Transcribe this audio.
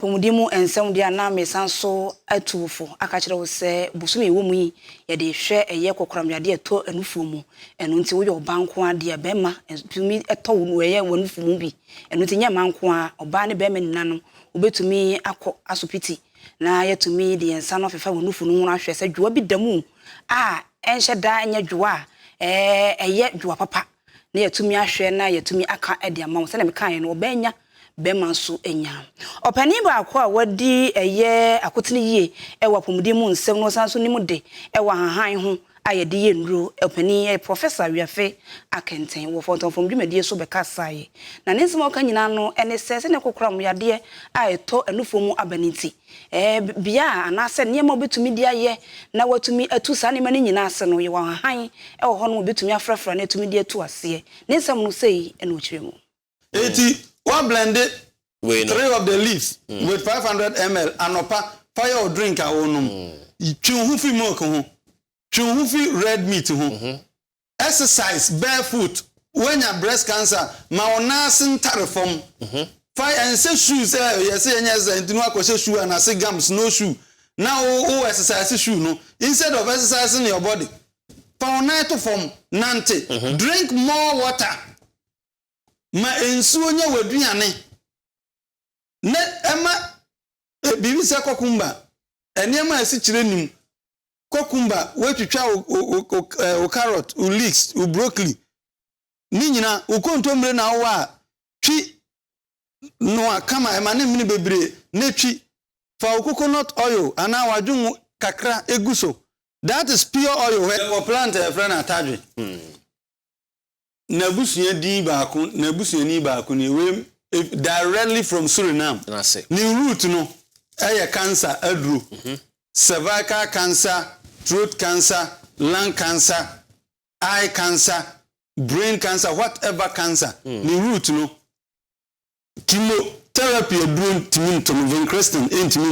Apɔmuden mu nsɛm deɛ a na meresan so atu wo fo aka akyerɛ wo sɛ bosome a ɛwɔ mu yi yɛde hwɛ ɛyɛ kɔkoram yadeɛ a ɛtɔ anufoɔ mu ɛno nti woyɛ ɔbaa nko ara deɛ a barima tumi tɔ wo no ɛyɛ w'anufo mu bi ɛno nti nyɛ mmaa nko ara ɔbaa ne barima nyinaa no wobɛtumi akɔ asopiti na yɛatumi de yɛn nsa no afefa w'anufo no ho ahwɛ sɛ dwowa bi da mu a ɛnhyɛ da nyɛ dwowa a ɛyɛ dwowa papa. na yɛatumi ahwɛ na yɛatumi aka de ama wɔn. Sɛdeɛ mekaeɛ no, ɔbaa nya, barima nso nya. Ɔpanin baako a wadi ɛyɛ akotene yie wɔ apɔmuden mu nsɛm na ɔsan nso nim de wɔ ahahan ho a yɛde yɛ nnuro, ɔpanin yi yɛ Professor Wiafe Akenten wɔ Fɔntɔn Fam Dwumadie so bɛkasaeɛ. Na ne nsɛm a ɔka nyinaa no ne sɛ, sɛdeɛ kokoram yadeɛ a ɛtɔ anufoɔ mu aba no nti, Bea anaasɛ nneɛma a wobetumi de ayɛ na wɔatumi atu saa nneɛma no nyinaa ase no, yɛwɔ nhahan wɔ hɔnom a wobetumi afrafra na atumi de atu aseɛ. Ne nsɛm no sei na ɔkyerɛ mu. Enti woablɛnde three of the leaves with five hundred ml anɔpa fa yɛ wo drink a wonom. Twe wo ho fi milk ho. Twe wo ho fi red meat ho. Exercise barefoot, woanya breast cancer, ma wo nan ase ntare fam, fa ɛnsɛ shoes sɛ yɛsɛ yɛnyɛ exercise nti na wakɔhyɛ shoe anase gum snow shoe na wo wo exercise shoe no instead of exercising your body fa wo nan to fam nante, drink more water, ma nsuo nyɛ w'aduane na ɛma biribi sɛ kɔkumba, nneɛma a ɛsikyire nim cucumber, woatwitwa wo, wo, wo, wo, eh, wo carrot, wo leeks, wo broccoli, ne nyina, wo kontommire na wowɔ a, twi noa kama, ɛma ne mene bebree, na twi. Fa wo coconut oil anaa w'adwongo kakra gu so. That is pure oil. Yɛwɔ plant a yɛfrɛ no atadwe. n'abusua din baako, n'abusuani baako nie, wei directly from Suriname. Ne root no yɛ cancer aduro, mhm. cervical cancer, throat cancer, lung cancer, eye cancer, brain cancer, whatever cancer. Mm. Ne root no chemotherapy aduro ntumi ntom, vincristine ntumi